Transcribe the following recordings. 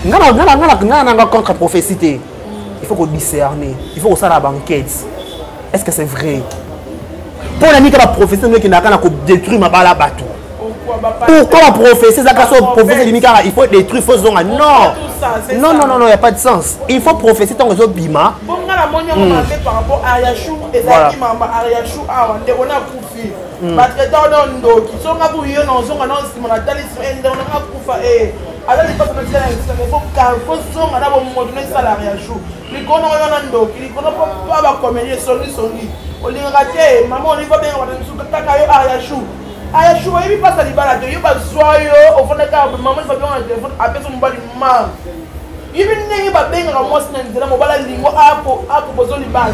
nga na nga na nga na nga contre prophétie te il faut ko discerner il faut kosala banquete est ce que c'est vrai mpo na nini ka baprophétie ndenge ekendaka na kodétruire mabala bato pourquoi baprophétie ezaka so prophétie elimi kaka il faut détruire faut zonga non non non non non ya pas de sens il faut prophétie ntango ezobima batretan nondoki songa boyo na ozonga na nsima na talisima ende nakufa aza lipasa na tika na esika mais fo carfo zonga na bomoto na esalaka ya jour likolo na wana ndoki likolo mpo mpo bakomeli esongisongi olingaka te mama oliva benga bato mosusu kaka yo ar ya jour aya jour oyebi mpasa libala te yo bazwa yo ofanda kaka mama oliva bionga na telefone apesa mobali ma yebi ndenge babengaka mwasi na nzela mobala lingo akopozo libala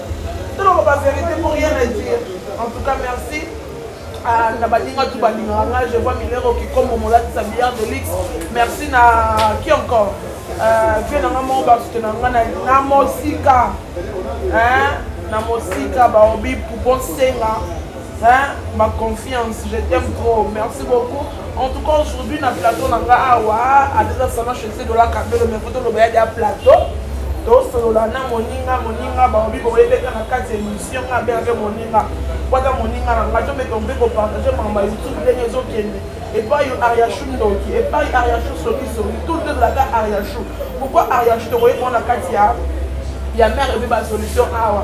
toloba verité pour rien à dire en tout cas merci ah, na baninga tu balingaka nga je vois milero kikombo molatisa billard de lix merci na qui encore euh, vie na nga moko basute na nga na mosika na mosika baobi poupon senga ma confiance je t'aime trop merci beaucoup En tout cas aujourd'hui na plateau na nga awa adeza salon chez Dola Kabelo mais faut toloba ya plateau tosolola na moninga moninga baobi boyebeka na kati ya émission nga abe abe moninga kwata moninga na nga tomeka mpe kopartage makambo ya youtube ndenge ezokende epai yo ariachou ndoki epai ariachou sokisoki tout le tozalaka ariachou pourkoi ariachou tokoyeba na kati ya ya mare ebe basolution awa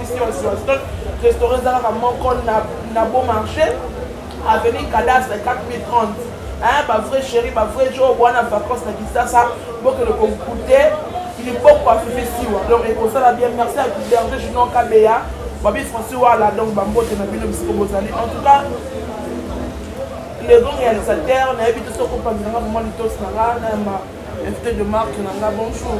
restaurant ezalaka moko na beau marché avenue cadastre 4030 hein ba vrai chéri ba vrai jour wana vacances na kisasa bokende kokute liboko afifi siwa donc ekosala bien merci à berger junon kabeya babi français wala donc bambote na bino bisiko bozali en tout cas le grand réalisateur nayebi te soki opanzi nanga vraiment litosi nanga na Invité de marque na nga bonjour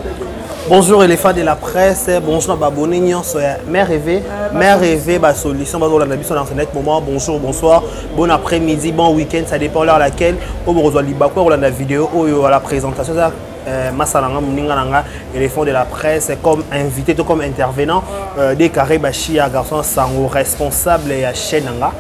Bonjour éléphant de la presse, bonjour na babone nyonso ya Mère Rêve, euh, Mère Rêve ba solution bazo landa biso na internet moment bonjour bonsoir, bon après-midi, bon week-end, ça dépend l'heure laquelle au bozo libako ko landa vidéo oyo à la présentation ça euh, masala nga moninga na nga éléphant de la presse comme invité to comme intervenant euh, des carré bashia garçon sango responsable ya chaîne nga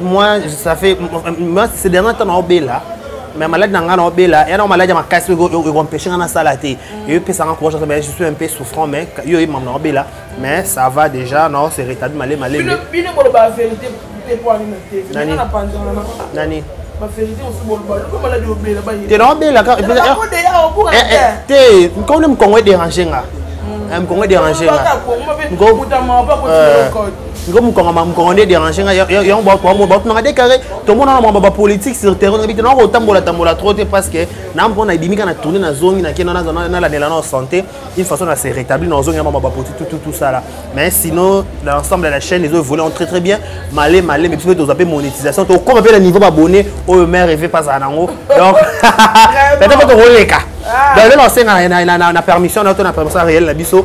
moi ça fait moi c'est dernier temps na obela mais malade na ngai na obela ya na malade ya makasi ekompeshe ngai nasala te mm. yo epesanga courage mais je suis un peu souffrant mais yo ye mama na obela mais ça va déjà na se rétabli male male bino boloba vérité te po ani na te nani nani te na obela te nkaone mokongo edérange nga mokongo edérange nga ngo mukangama mukongo nde dérange nga yango bato bamo bato nanga déclaré tomona na mambo ba politique sur terrain ngabi te nako tambola tambola trop te parce que na mpo na ebimika na tourner na zongi na kena na na na la na santé une façon na se rétablir na zongi na mambo ba politique tout tout tout ça là mais sinon l'ensemble de la chaîne ils ont volé très très bien malé malé mais plutôt zappé monétisation to comme appelle niveau abonné au oh, maire rêvé pas à nango donc peut-être que to roleka ah. donc là on sait na na na permission na to na permission réelle na biso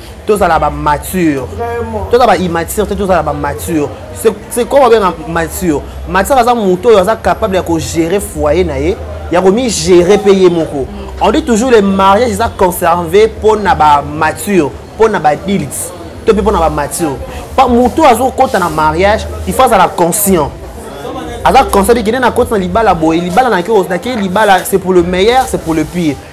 tozala ba mature tozala ba immature te tozala ba mature c'est comme abenga mature mature aza moto oyo aza capable ya kogere foyer na ye ya komigere mpe ye moko on dit toujours le mariage eza conserve mpo na ba mature mpo na ba dilte to mpe mpo na ba mature moto azokɔta na mariage il faut azala conscient aza conscient ekende na koti na libala boye libala nake libala c'est pour le meilleur c'est pour le pire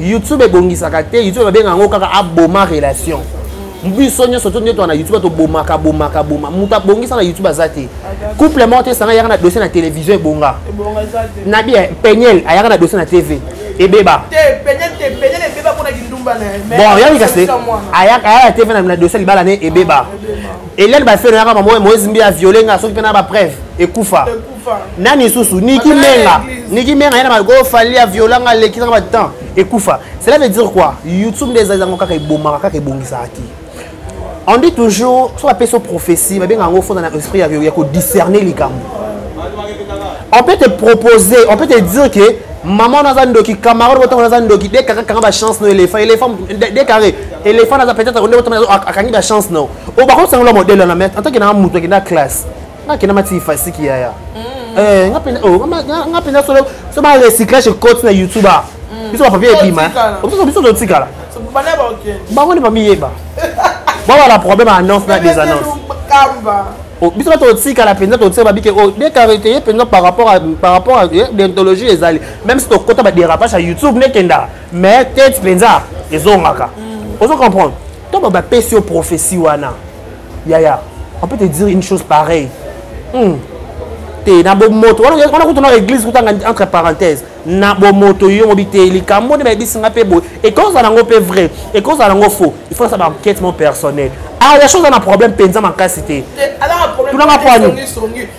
youtube ebongisaka te youtube babenga yango kaka aboma relation biso nyonso to nioto na youtube tobomaka bomaka boma moto abongisa na youtube aza te couple moko te esanga yaka na dossier na télévision ebonga nabi eh, peniel ayaka na dossier na tv ebeba bon yabi kasi ayaka na tv na dossier libala ne ebeba elene bafeno yaka mamoe moezimbi ya viole nga soki mpe na bapreuve ekufa nani lisusu niki menga niki menga yana malgo fali aviola nga leki nanga batemps ekufa cela veut dire quoi youtube nde ezali yango kaka ebomaka kaka ebongisaka te on dit toujours soki bapesi yo prophétie babenga yango fonda na esprit ya kodiscerne likambo on peut te proposer on peut te dire que maman naza ndoki camarade botango naza ndoki de kaka kanga bachance no éléphant éléphant de carré éléphant naza peut-être nde botango akangi bachance no oyo bakosangola modèle wana mais en tant que naa moto akenda classe nga kena mati ifasiki yaya mm. eh, nga pena oh, nga pena solo so ba recyclage cote na youtube ah. mm. biso ba papier ebima biso biso to tikala bango nde bamiyeba bawa la problème annonce na des annonces oh, biso bato totikala mpenza totika babike oyo oh, dekarite ye mpenza par rapport par rapport eh, dentologie ezali même si tokota badérapage ya youtube nekendaka mais tete mpenza ezongaka mm. ozo comprendre to bapesi yo prophétie wana yaya on peut te dire une chose pareille hmm. te na bomoto wana kutu na église kutanga entre parenthèse na bomoto yo mobi te likambo nde bayebisi nga mpe boye ekozala nango mpe vrai ekozala nango faux il faut asala baenquête mo personnel ah ya chose ana problème mpenza makasi te tunanga poani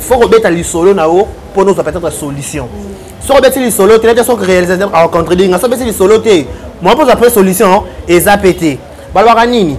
faut kobeta lisolo na yo mpo nozwa peut-être solution soki obeti lisolo te nete soki réalisateur akocontredire nga so obeti lisolo te mwa mpo ozwa mpe solution eza mpe te balobaka nini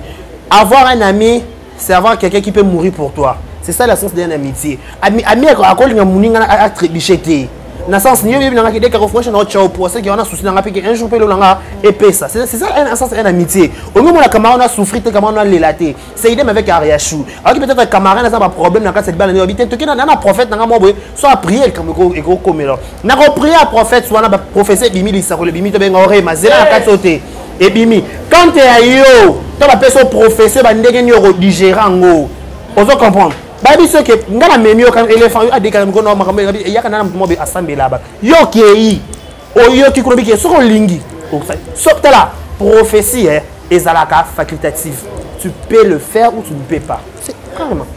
avoir un ami c'est avoir quelqu'un qui peut mourir pour toi c'est ça la sens d'un amitié ami ami akolinga moninga atrebiche te na sens niyo yebi nanga kideka kofresha na otchao po aseki wana souci nanga peke un jour mpe elonanga epesa c'est ça un sens un amitié olingi omona kamara na souffrir te kamara na lela te c'est idem avec ariachou ayoki peut-être camarade aza baproblème na kati ya libala nayobi te toki na na prophète nanga mwa boye so aprie likambo ekokomela nakoprie ya prophète wana baprofesi ebimi lisakolo ebimi tobenga orema zela na kati oyo te ebimi kante ya yo to bapesi oprofesi ba ndenge nini okodigere yango ozo comprendre bayebi soki ngai namemi yo éléphant yo adekaka mikolo na makambo eyaka nana moto mobe asambelaba yo okei oyoki kuna bike soki olingi soki tala prophétie eh, ezalaka facultative tu peux le faire ou tu ne peux pas c'est carrément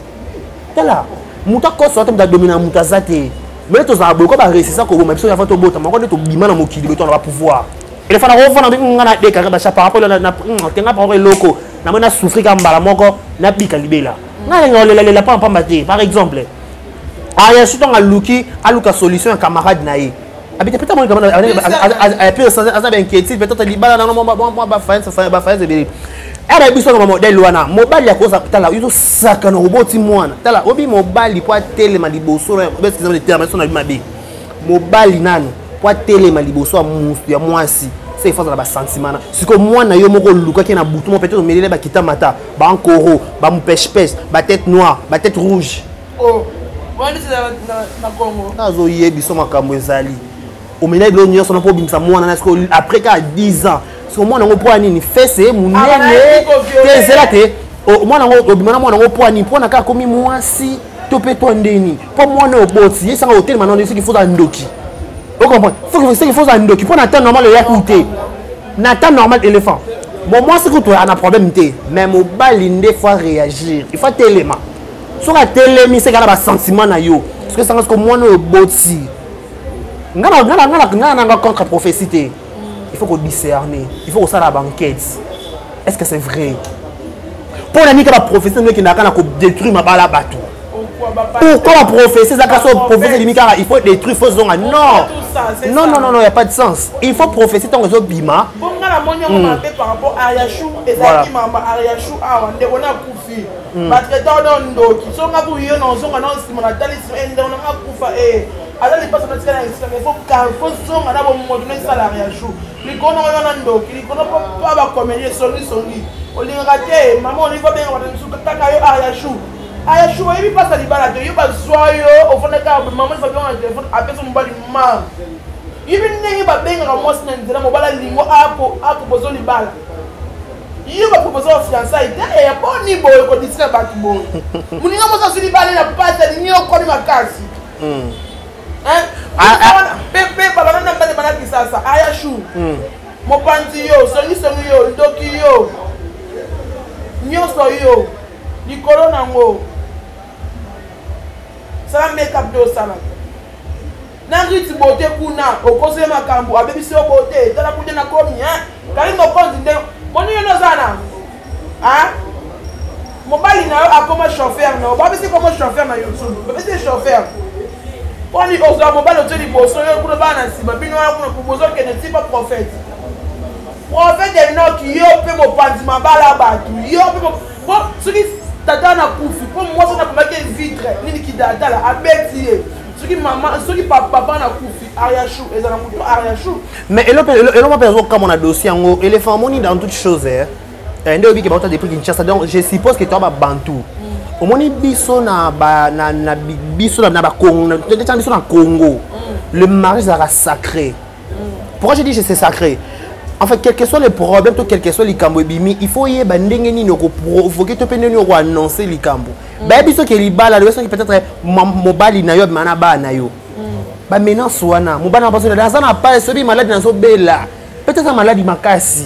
tala moto akosa ata moto adomina moto aza te me tozala boye ko baresisa koboma biso yava tobota moko nde tobima na mokili boye tona bapouvoir elefana kofana mpe nga na dekaka basha par rapport tenga par rapport eloko namoi na souffri ka mbala moko nabika libela nga lenga olelalela mpamba mpamba te par exemple ayasuto anga aluki aluka solution ya camarade na ye abite peut-être amoni kama aza bainquiétude peut-être libala nango mwa bafayanse ebele aba biso na bamodele wana mobali akoza tala yo tosakana oboti mwana tala obi mobali mpo atelema liboso naeso na bi mabe mobali nanu mpo atelema liboso ya musu ya mwasi se efasa na basentimana sikoyo mwana yo moko olukaki na butu mo peut-être omelele bakita mata bankoro bamupeshepeshe batete noire batete rouge Oh, nazo ye biso makambo ezali omelai bilo nyonso na mpo obimisa mwana na siko après kaka 10 ans siko mwana yango mpo ya nini fese ye monene te ezela te mwana yango obima na mwana yango mpo ya nini mpo na kaka akomi mwasi to mpe to ndeni mpo mwana oboti ye sanga otelema na ndeni soki foza ndoki okomprendre soki foza ndoki mpo na temps normal eyaki te na temps normal éléphant bon mwasi kutu ana problème te mais mobali nde faut réagir il faut telema soki atelemi seka na basentiment na yo soki esanga soki mwana oyo oboti ngai nanga contre prophétie te il faut kodiscerne il faut kosala banquete est ce que c'est vrai mpo na nika baprofesi ndenge ekendaka na kodétruire mabala bato pourquoi baprofesi ezaka so profesi elimi kaka il faut détruire faut zonga non non non non non ya pas de sens il faut profesi ntango ezobima hmm. voilà batraite wana yo ndoki so nga kuyo na ozonga na nsima na tali nsima ende ona nga kufa e aza lipasa na tikala nsima mais fo zonga na bomoto na salari ya jour likono oyo na ndoki likono mpo pa bakomeli esongisongi olingaka te mama oliva benga bato mosusu kaka yo ar ya jour aya jour oyebi mpasa libala te yo bazwa yo ofandaka mama oliva bionga na telefone apesa mobali ma yebi ndenge babengaka mwasi na nzela mobala lingo apo apo bozo libala yo baproposa ba fiançai te eya boni boye kodisika bato boye moninga mosi azwi libale na pasi alingi yo okomi makasi hmm. ah, ah. mpe babana na mbane bana kisasa aya chou hmm. mopanzi yo songisongi yo ndoki yo nyonso yo likolo na yango sala makeup nde osala na rite bote kuna okosi ye makambo abebisi yo bote tala kude na komi kali mokonzi nde moni yo noza na mobali na yo akoma chauffeur na yo babisi koma chauffeur na youtube babisi chauffeur poni ozwa mobali otye liboso yo kuna bana na nsima bino wana kuna bozokende tipa prophète prophète enoki yo mpe mopanzi mabala bato yo mpe soki tata na kufi mpo mwasi na komaki vitre nini kidatala abeti ye soki mama soki papa na kufi ariachou eza na moto ariachou mais eloko mpe azokamwa na dossier yango éléphant amoni dans toute chose eh. Eh, nde oyebike bauta depuis kinshasa donc je suppose que toa babantu mm. omoni biso na biso na biso na congo mm. le mariage ezalaka sacré pourquoi je dis c'est sacré en fait quel que soit le problème to quel que soit likambo ebimi il faut oyeba ndenge nini okoprovoke to mpe ndenge nini okoannonce likambo mm. bayebi soki libala loye soki peut-être mobali na yo abima na bana na yo mm. bamenance wana mobali na baso aza na pale soki maladi nazobela peut-être maladi makasi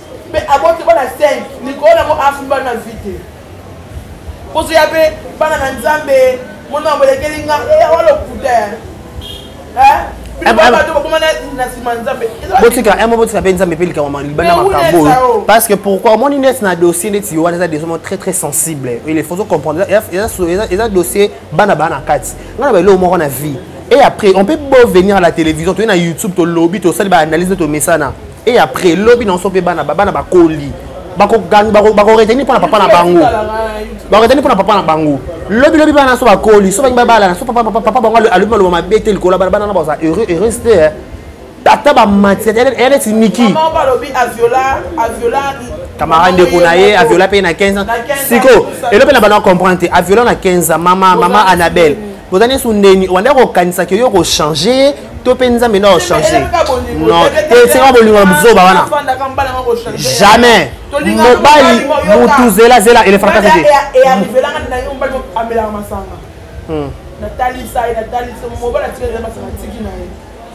mpe aboti bana 5 likolo yango afuni bana na vi te kozoya mpe bana na nzambe mona yango elekeli nga eh, awa lokuta botika emo botika mpe nzambe mpe likambo maliba na makambo oyo parce que pourquoi omoni neti na dossier neti yo wana eza desoma très très sensible il est faut comprendre eza dossier bana baa na kati nga na baeloko moko na vie et après on peut beau venir à la télévision toye na youtube tolobi tosali baanalyse tomesana et après lobi na biso mpe bana bana bakoli bakoreteni mpo na papa na bango bakoreteni mpo na papa na bango lobi lobi bana so bakoli so bangi babalana so papa bango alobi maloba mabe te likolo bana bana na baza heureux heureuse te eh. ata bamati eye neti niki kamara ndeko na ye aviola mpe na 15 ans sikoyo elo mpe na bana comprendre te aviola na 15 ans mama mama annabelle boza nde sundeni obanda kokanisa ke yo kochange to mpe nzambe nde akochange non esika bolingo na buzoba wana jamais mobali mutu zela zela elefaka kaka te natali sai natali mobali atikaki masanga atiki na ye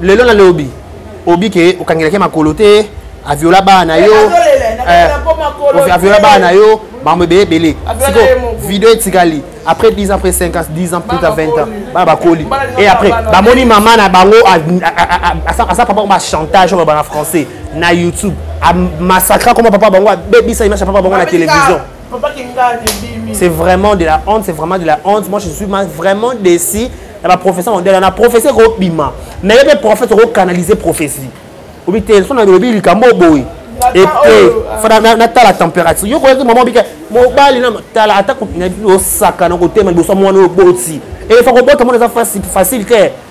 lelo na lobi obi ke okangelaki makolo te aviola bana na yo eh, aviola bana na yo makambo ebele ebele siko video etikali après 10 ans après 5 ans 10 ans plus tard 20 ans bana bakoli et après bamoni mama na bango asa papa ba chantage oyo bana français na youtube amassacra koma papa bango abebisa image ya papa bango na télévision C'est vraiment de la honte, c'est vraiment de la honte. Moi, je suis vraiment déçu. Il y a prophétie mondiale, il y a prophétie qui est bima. Mais il y a prophète qui canaliser prophétie. Ou bien, ils sont dans le lobby, ils sont boy. Et puis, nata la température. Yo koyaki maman bika mobali na tala ata ko na bi osaka na ko tema liboso mwana oboti. Et il faut ko bota mwana za facile facile te.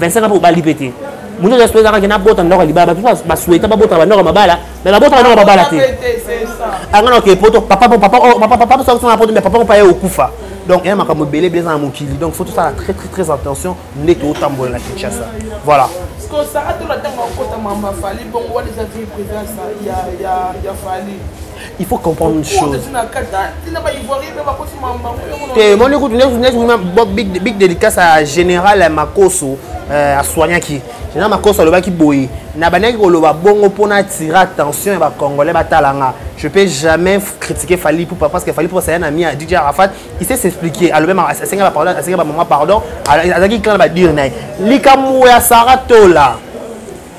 25 ans obali pe te mutu oza souhaita kaka nabota ndako ya libala batu basouhaita babota bandako ya mabala me babota bandako ya mabala te anga naoke poto papa sosana poto me papa mopa ye okufa donc eya makambo ebele ebele eza na mokili donc faut tosala très très très attention nde totambola na kinshasa voilà kosaka tolo ntango akota mamba fali bongo wana eza vie privance ya fali il faut comprendre une chose te moni kutu neti big dédicace ya général ya makoso euh, asoignaki général makoso alobaki boye na bandaki koloba bongo mpo na attire attention ya bacongolais batala nga je peux jamais critiquer fali poupa parce que fali poupa saya na mi ya dj arafat il sait s'expliquer alobi asenga bapardon asenga bamama pardon azalaki clan na badire na ye likambo ya sara tola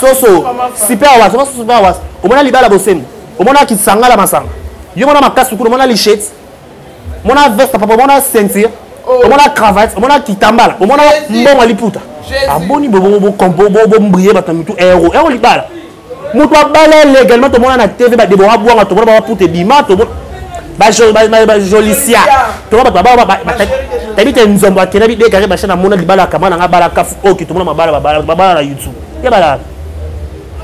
soso super awas oka soso awas omona libala bosembo omona kisangala masanga yo mona makasi kuna omona lichete omona veste papa omona ceinture oh. omona cravate omona kitambala omona mbongo liputa aboni bombrie bato na mitu ero ero libala moto abala légalement tomona na tv badebora bwanga tomona babaputa ebima bajolisia toma bato babaotayebi te nzombo akenda bidekare basha na mona libala akama na nga bala kafu oki tomona mabala babala na youtube ye bala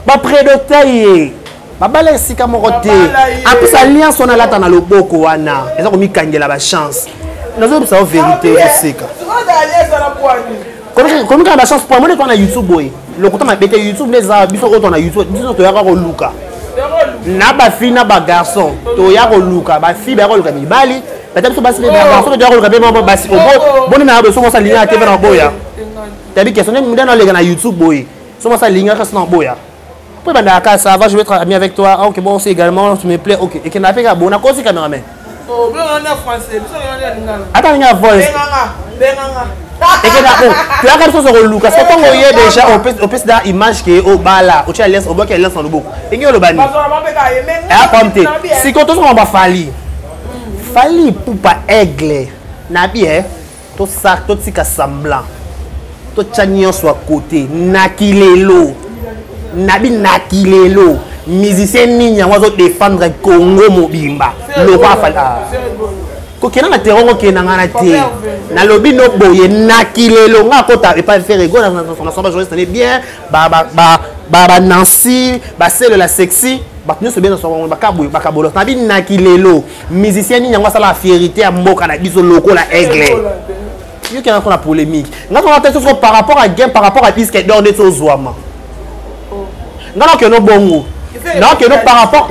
bapredokta ye babala esika moko te apres alliance wana alata na loboko wana eza komikangela bachance nazoyebisa yo verité ozoseka komikanga bachance po amoni epa na youtube boye lokuta mabe te youtube nde eza biso oyo tona youtube biso toyaka koluka na bafi na bagarçon toya koluka bafi baya koluka mibali bata biso basi bagarçon mpe toya koluka mpe mama basi boni na yaboye soki osa lingaka te mpe na boya tabi question nde nde naleka na youtube boye soki osa lingaka kasi na boya mpo ebandaka kaka ça va je vais être ami avec toi ah, ok bon aussi également tu me plais ok ekendaka mpe kaka bona kosi cameraman Oh, ata ndenge ya voice toyaka lisusu koluka so ntango oye déjà opesi na image ke obala otya alliance obwaki alliance na loboko ndenge oloba nini apam te sikoyo tozokoma bafali fali pupa aigle na bi e totika semblant totya nyonso ya kote naki lelo nabi naki lelo musicien nini yango azodefendre congo mobimba loko afali ah. kokenda na terrain okenda ngai na te nalobi no boye naki lelo ngai akota epai ferego nasomba journaliste nane bien banancy baselela sexy bato nyonso bie nasomba bakabola nabi naki lelo musicien nini yango asala fierité ya mboka na biso lokola aigle yoki yango na polémique nga tona te soko par rapport à game par rapport à disque d'or ndeti ozwama oh. nga nakeno bongo nakeno par rapport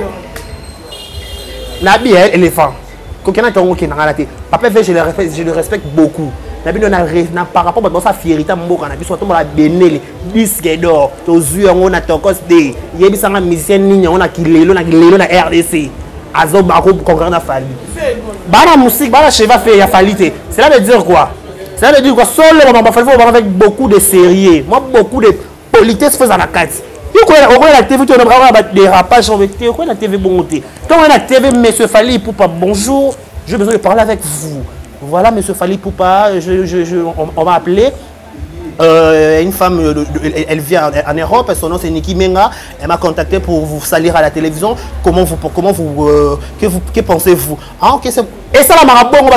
nabi ya éléphant kokena te yango okenda nga na te papa fe je le respecte beaucoup na bino na par rapport bato basala fierité ya mboka na biso batombola benele disque d'or tozwi yango na tokos de yebisanga musicien nini yango na kilelo na kilelo na rdc azobakoconcurre na fali bana musike bana cheva fe ya fali te cela veut dire quoi cela veut dire quoi solo bamama fali fo banga avec beaucoup de sérieux mwa beaucoup de politesse fo eza na kati okoya na tv toaa badérapage te okoya na tv bongo te ntongo na tv monsieur fali ipupa bonjour je besoin de parler avec vous voilà monsieur fali ipupa je, je, je, on, on m'a appelé Euh, une femme, euh, elle vient en Europe, son nom c'est Niki Menga. Elle m'a contacté pour vous salir à la télévision. Comment vous, comment vous, euh, que, vous que pensez-vous Ah ok, c'est et ça la marabongo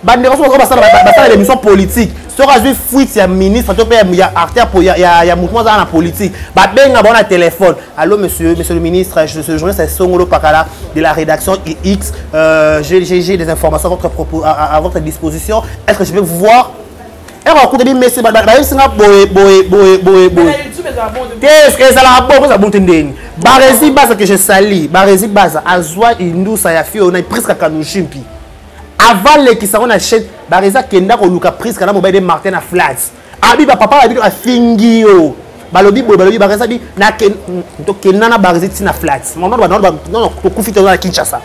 bande ko ko basala basala l'émission politique soki azwi fuite ya ministre to mpe ya artère ya mouvement azala na politique babenga bango na téléphone allo monsieur monsieur le ministre ce journée c'est songolo pakala de la rédaction X, euh, j'ai des informations à votre, propos, à, à, à votre disposition. Est-ce que je peux vous voir ero akutani mesi bayebisi nga boye boye boye boye boye te ezalaka bo kozala bonte ndeni barezi baza que je sali barezi baza azwa indusa ya fio na priska kanushimpi avant lekisa yango na chaine barezi akenda koluka priska na mobali de martin na flats abi ba papa abi afingi yo balobi boye balobi bareza bi na ken to kenna na barezi ti na flat mon nom ba non non to kufi to na Kinshasa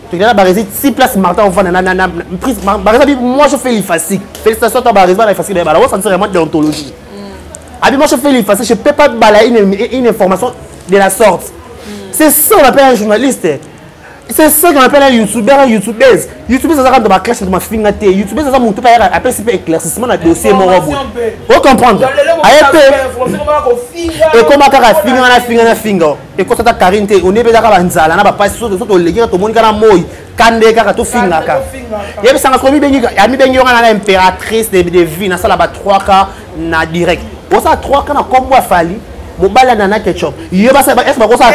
to kenna barezi ti place Martin on vana na na prise bareza bi moi je fais l'effacique félicitations toi barezi ba effacique ba la on sentir vraiment déontologie mm. abi moi je fais l'effacique je peux pas balayer une, une information de la sorte mm. c'est ça on appelle un journaliste c'est ça qu'on appelle un youtubeur un youtubeuse youtubeuse azaka ndo baclash ndo mafinga te youtubeuse aza motu mpe ayaka apesi mpe éclaircissement na dossier moko boye ocomprendre aye mpe ekoma kaka finga na finga na finga ekosa ata karine te onebi ezaka banzala na bapasi so toleki kaka tomoni kaka na moi kande kaka tofingaka yebisanga soki amibengi yo kaka na impératrice de vie nasala ba 3 cas na direct osa 3 kana kombo afali mobali ya nana ketchup ye basese bakosa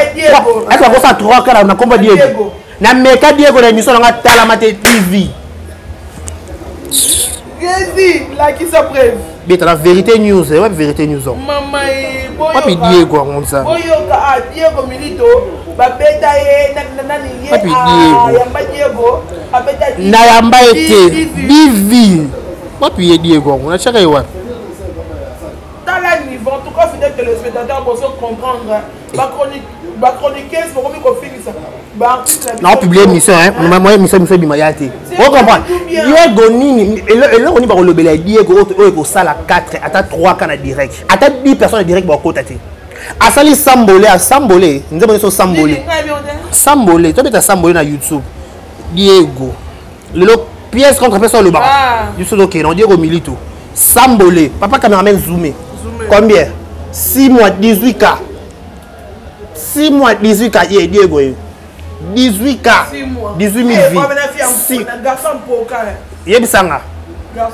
3 kana na kombo diego na meka diego na émission na nga talama te tv Gezi, lakisa preuve. Beta la vérité news, eh, ouais vérité news. Oh. Mama e boyo. Papi Diego yango nza. Boyo ka a ah, Diego Milito ba beta ye na na nani ye. Papi ah, Diego. Yamba Diego, a beta. Na yamba ete. Bivi. wapi ye diego yango natiaka ye wapi tala niveau en tout cas fidèle téléspectateur bozo comprendre bachroniqueuse bokomi kofingisa nao publie émission moya émission miso ebima ya te ocomprendre diego nini eloko nini bakolobela ya diego oyo ekosala 4 ata 3 ka na direct ata 10 personne na direct bakokota te asali sambole asambole nzembo nyonso sambole sambole tobeta sambole na youtube diego lelo pièce contre pièce olobaka ah. biso tokende odie komilito sambole papa cameraman zoome combien 6 mois 18 cas 6 mois 18 cas ye diego ye 18 cas 18 mille vies yebisanga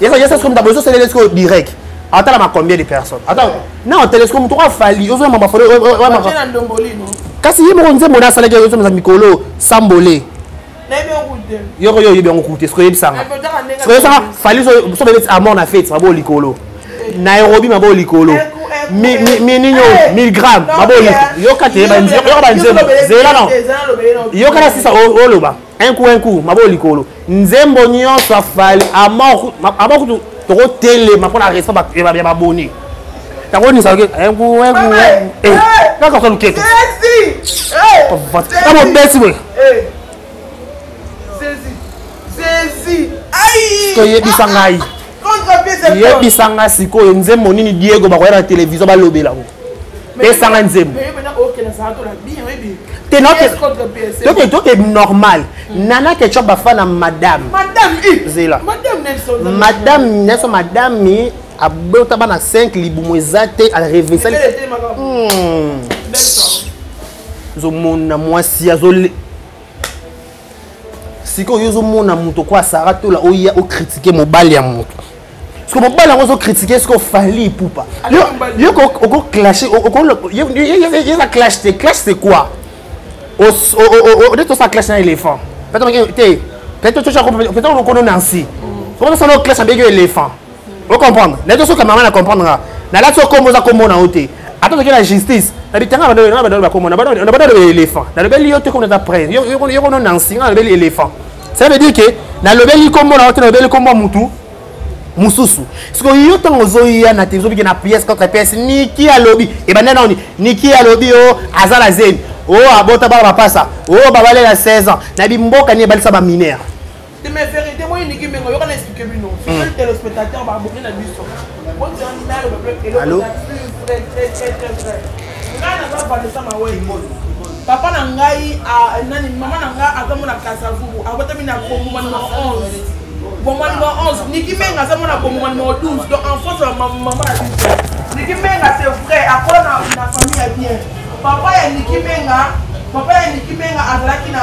yesa soki moto abozi oselele soki direct atalama combien de personnes ata na otelesiko moto oka fali ozoyamba bafole kasi ye moko nzembo na asalaki ozomiza mikolo sambole yoko yo oyebi yango kute soki oyebisanga soki oyebisanga fali soki oyebisi amor na fete mabo likolo nairobi mabo likolo mininyo miligramme mabo yoka te yoka banzembo zela no yoka na sisa oloba un coup un coup mabo likolo nzembo nyonso afali amor amor kutu tokotelema mpo na respect ya baboni takonisa oke kaka soluketo na mobesi boye Eh. toyebisa ngai yebisa ngai sikoyo nzembo nini diego bakoya na televizio balobela yango pesa ngai nzembo toke normal nana kecob bafa na madame zela madame nelson madame abota bana 5 libumu eza te arevesali ozomona mwasi azo sikoyo yo ozomona moto kwa sara tola oya okritike mobali ya moto siko mobali yango ozokritike siko fali ipupa yo okoclashe eza clash te clash c'est quoi odete osala clash na éléphant te peut-être okono nansi okonosala clash abeki yo éléphant o comprendre na to soka mama na comprendre nga na la soko moza ko mona ote ata soki na justice na bitanga bando na bando bakoma na bando na bando le éléphant na le beli yo te ko na presse yo yo yo na nsinga na le beli éléphant ça veut dire que na le beli ko mona ote na le beli ko mona mutu mususu siko yo ntango ozoya na te ozobike na pièce contre pièce niki alobi ebanda nani niki alobi o aza na zemi o abota bana bapasa o babalela 16 ans na bimboka nini ebalisa baminere te mais vérité moi niki mengo yoka na expliquer bino c'est hmm. le téléspectateur ba bokina biso bon tu en mal ba bloc et alors très très très très très ngana ba ba de ça ma way papa na ngai nani mama na ngai aza mona kasavubu abotami na konguma numero 11 boma numero 11 niki menga aza mona konguma numero 12 donc en france ya mama na biso niki menga c'est vrai akola na famille ya bien papa ya niki menga papa ya niki menga azalaki na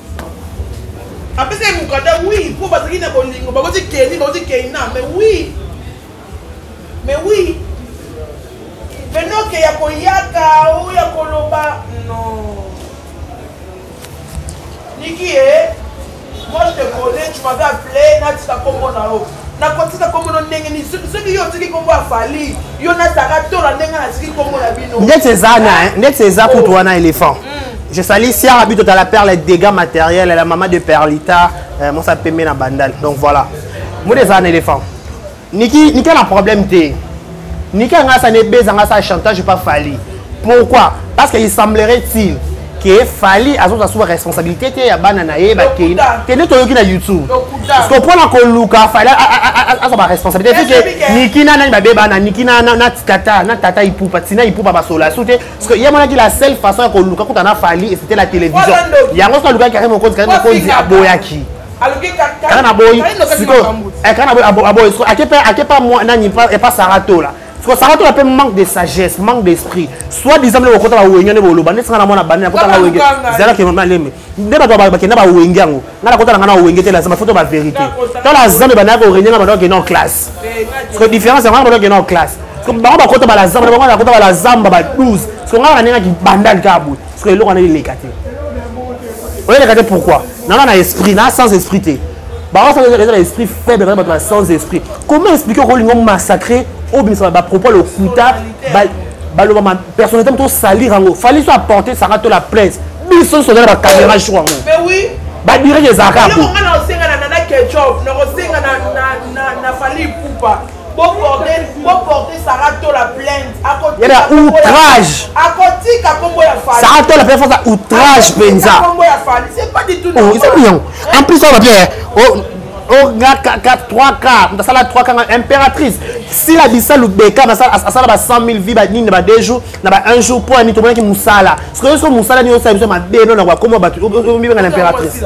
apesa ye mokanda wi mpo bazalaki na bolingo bakoti keni bakoti keina mais wi mais wi menoke ya koyaka o ya koloba non niki e moi je te connais tu m'avais appelé natika kombo na yo nakotika kombo no ndenge nini soki yo otiki kombo ya fali yo nataka tola ndenge natiki kombo na bino ndeti eza ndeti eza oh. kutu wana éléphant mm. je sali siara bito tala perle dégâts matériel la mama de perlita euh, mosa pembe na bandal donc voilà mode eza na éléphant niki niki na problème te Niki anga asa ne beza anga asa chantage pas Fally. Pourquoi? Parce qu'il semblerait-il que Fally azo sa responsabilité te ya bana na ye ba kei. Tene toyoki na YouTube. Parce que pona ko luka Fally azo ba responsabilité parce que Niki na nani ba beba na Niki na na tata na tata ipupa tina ipupa ba sola soute parce que ye mona ki la seule façon ya ko luka kuta na Fally et c'était la télévision. Yango so luka Karim Okonzi Karim Okonzi aboyaki. kana boyi sikoyo eh, kana boyi aboyi sikoyo ake mpe ake mpa mwa nani epa sara tola sikoyo sara tola mpe manque de sagesse manque d'esprit soit disant bino bokota bawenge nde boloba nde singa na mwana bani nakota nga wenge zalaki mama leme nde bato bakenda bawenge yango nga nakota na nga na wenge te lazima foto baverité tola zambe bandaki korenie nga bandaki okenda en classe eh, sikoyo différence yango nga bandaki okenda en classe bango bakota balazamba bango bakota balazamba ba 12 sikoyo nga na ndenge akibandali kaka boye parce que eloko wana eleka te oyeleka te pourquoi nana na esprit na sans esprit te bango sala eza na esprit faible baza bato na sans esprit comment explique okolinga massacre obimisa bapropos ya lokuta baloba personnalité moto osalire yango fali so apporte sanga to la plaise biso nyonso oza na bacaméra jour yango badireke ezalaka yango yeba outrage sara tola mpe fasa outrage mpenza ezali yango en plus oyo babie nga 3 ka moto asala 3 kanga impératrice sila bisa lubeka asala ba 100 000 vie banini na ba 2 jours na ba 1 jour mpo ya nini tomonaki mosala soki nyonso mosala nini osala biso mabe no na bakoma bato omibenga na impératrice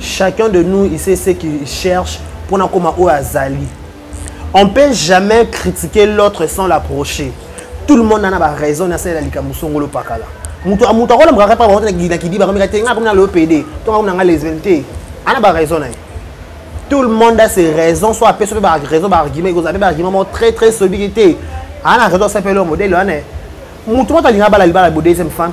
chacun de nous il sait ce qu'il cherche mpo na koma oyo azali on peut jamais critiquer l'autre sans l'approcher tout le monde ana baraison na salela likambo songolo pakala moto akolamukaka kaka bango te na kidiba kameka te ngai akomi na lopede to ngai akomi na ngai lesbienne te ana baraison na ye tout le monde a ses raisons soit apesa mpe baraison baargument ekozala mpe baargument moko très très solide te ana raison asapeli yo modele wana moto moto alinga bala libala bo deuxième femme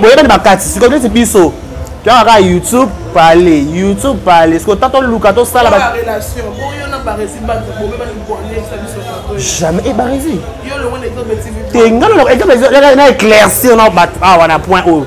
boyebani makati sikoyo neti biso toyaka kaka youtube pale youtube pale sikoyo ta toluka tosala jamais ebarezi te nga na éclaircir na bato awa na point oyo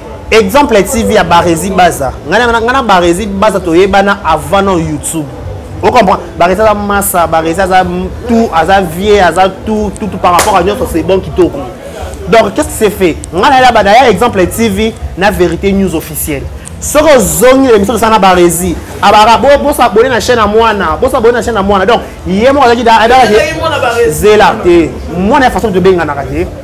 exemple ya tv ya barezi baza ngai na barezi baza toyebana avant na youtube ocomprendre barezi aza masa barezi aza tout aza vieux aza tout tout par rapport à nyonso c'est bon kitoko donc qu'est ce qui s'est fait ngai nayela bana ya exemple ya tv na vérité news officielle soki ozongi na emission tosala na barezi abara bosabone na chaîne ya mwana bosabone na chaîne ya mwana donc ye moko azalaki zela te mwana ya façon tobenganaka te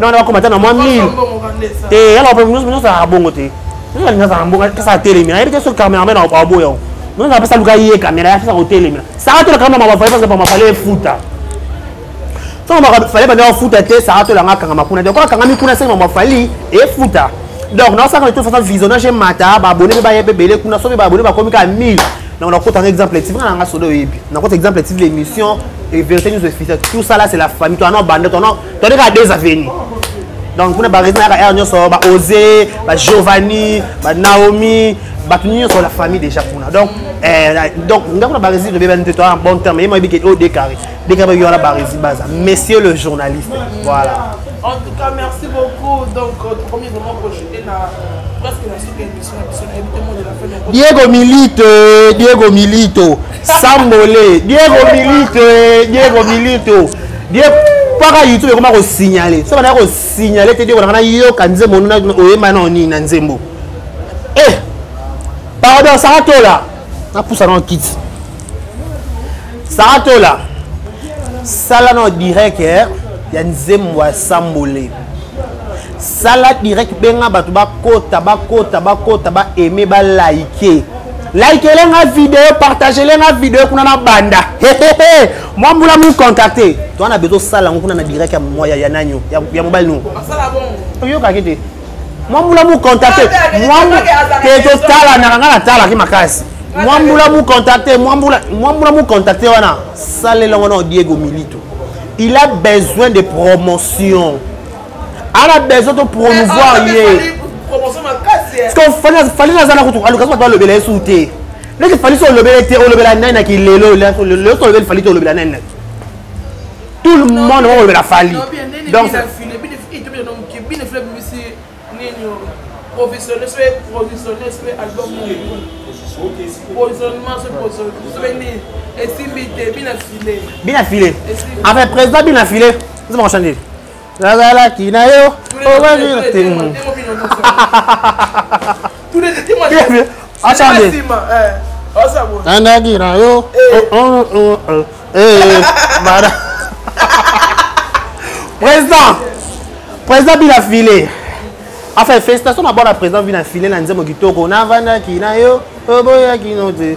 nana bakoma ata na mwa mille te yala nyonso azalaka bongo te nyonso alingi azalaka bongo apesa atelemela ayebi te soki cameraman aboya yango nyonso apesa luka ye kamera apesa kotelemela saka tolaka mama bafale pasa bamafale efuta soki mafale banda bafuta te saka tolanga akangama kuna donc akangami kuna sengi mamafali efuta donc naosaka na tofaçon visionnage emata babone mpe baye mpe ebele kuna soki babone bakomi kaka 1000 donc nakotanga exemple tive nanga soda oyebi nakota exemple tive l'émission et vérité news officiel tout ça là c'est la famille toi non bande toi non tondeka ya des avenues donc mpona baresin yaka aire nyonso baose bagiovanni banaomi bato nyonso la famille déjà kuna donc eh, donc nga kuna baresin tobebani te toa en bon terme ye moyebi ke o déclaré déclaré bayoka na baresin baza monsieur le journaliste voilà en tout cas merci beaucoup donc euh, tokomi vraiment projeté na presque na suka Diego Milito, Diego Milito, Sambole, Diego Milito, Diego Milito, Diego mpaka youtube ekoma kosignale so banda kosignale te diego nanga nayoka nzembo oyemba nao nini na nzembo e pardon sara tola napusa nao kiti sara tola sala nao direct eh, ya nzembo ya sambole sala direct benga bato bakota bakota bakota ba aime ba like likele nga video partagele nga video kuna na banda mwa mbula mu contacte to wana bezo sala yango kuna na direct ya moya ya nanyo ya mobali no oyokaki te mwa mbula mu contacte te totalanaka nga natalaki makasi mwa mbula mu contacte mwa mbula mu contacte wana salela ngo na diego milito il a besoin de promotion ana besoin to promouvoir eh, ye fali naza na kutu aluka bato balobela ye su te ndenge fali so olobela te olobela nani na kilelo lelo tolobeli fali te olobela nani na tout le monde bakolobela fali donc provisionner soki provisionner soki album provisionnement soki provisionnement soki nini esimbi te bina file bina file enfin président bina file nzima kochangele nazalaki na yo nandaki na yo président président bina file enfin félicitation na bana président bina file na nzembo kitoko navandaki na yo oboyaki no te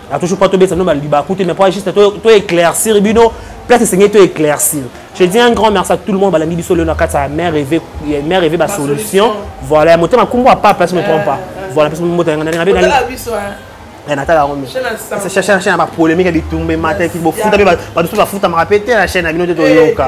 na toujours pas tobetisa bino balibaku te mais po juste to éclaircir bino place esengeli to éclaircir je dis un grand merci à tout le monde balandi biso lelo na kati ya mère reve mère reve basolution voilà ya motema nkombo ya papa si me trompe pas voilà mpe motema yanga ndenge na natala yango chaine ya bapolémike bitumba emataki bofuta mpe bato mpe bafutamaka mpe te na chaine ya bino te toyoka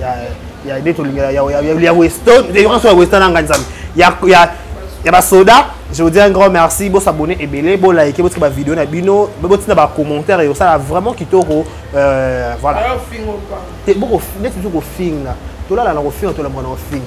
ya ya de tolingela ya ya ya Weston de yoka so ya Weston anga nzambe ya ya ya ba soda je vous dis un grand merci bo s'abonner ebele bo liker bo tika ba vidéo na bino bo tina ba commentaires yo ça vraiment kitoko euh voilà te boko net tu ko finga tolala na ko finga tolamba na ko finga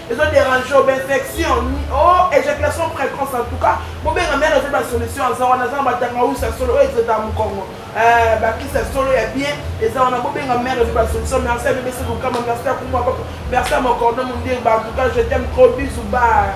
ezo déranger obe infection oh éjaculation précoce en tout cas bobenga mère azo ba solution aza wana aza na batanga usa solo oyo ezota mokongo eh, bakisa solo ya bien eza wana bobenga mère azo ba solution merci à bébé sekokama merci à kumwa papa merci à mon cordon mondier ba en tout cas je t'aime trop bisous bye